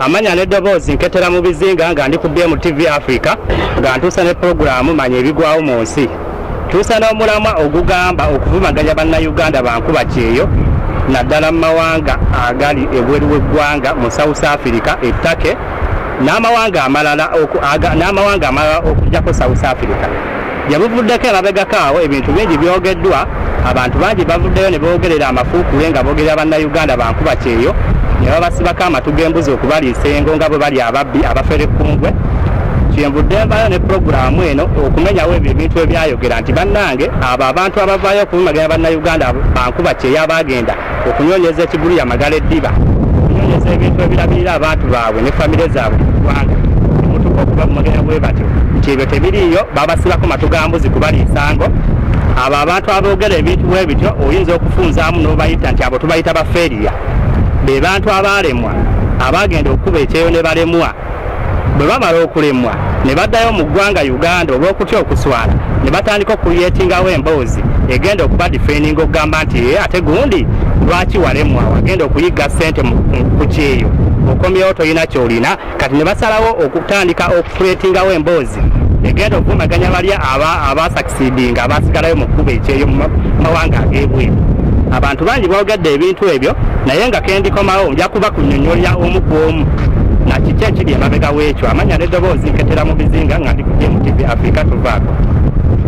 amanya n'eddoboozi nketera mu bizinga nga ndi ku bmtv africa nga ntuusa ne pulogulaamu manya ebigwawo mu nsi tuusa n'omulamwa ogugamba okuvumaganya bannayuganda bankuba kyeyo naddala mu mawanga agali ebweru w'eggwanga mu south africa ettake n'amawanga amalala okujjako south africa Gye buvuddeko emabegako awo ebintu bingi byogeddwa, abantu bangi bavuddeyo ne boogerera amafuukuule nga boogerera Bannayuganda ba nkuba kyeyo ne babasibako amatu g'embuzi okubaliisa engo nga bwe bali ababbi abafere kkungwe. Kyenvudde nvaayo ne pulogulaamu eno okumenyawo ebyo ebintu ebyayogera nti bannange abo abantu abavaayo okubumagira Bannayuganda ba nkuba kyeyo abaagenda okunoonyeza ekigulu yamagala eddiba okunoonyeza ebintu ebirabirira abantu baabwe ne famire zaabwe mu ggwanga mutuka okuba mumagera bwe batyo nti ebyo tebiriiyo babasibako matu ga mbuzi kubali nsango abo abantu aboogera ebintu bwe bityo oyinza okufunzaamu n'obayita nti abo tubayita baferiya be bantu abaalemwa abaagenda okukuba ekyeyo ne balemwa bwe bamala okulemwa ne baddayo mu ggwanga uganda olw'okutya okuswala ne batandika okuyeetingawo emboozi egenda okuba difeninga okugamba nti ye ate gundi lwaki walemwa wagenda okuyigga ssente ku kyeyo okomyewo tolina kyolina kati ne basalawo okutandika okukuleetingawo emboozi poliisi egenda okuvumaganya bali abasakisidinga abasigalayo mu kkuba ekyeyo mu mawanga ag'ebweru abantu bangi boogadde ebintu ebyo naye nga kendikomawo nja kuba kunyonyolya omu ku omu na kiki ekiri emabega w'ekyo amanya n'eddoboozi nketera mu bizinga nga ndi ku gmtv africa tuvaako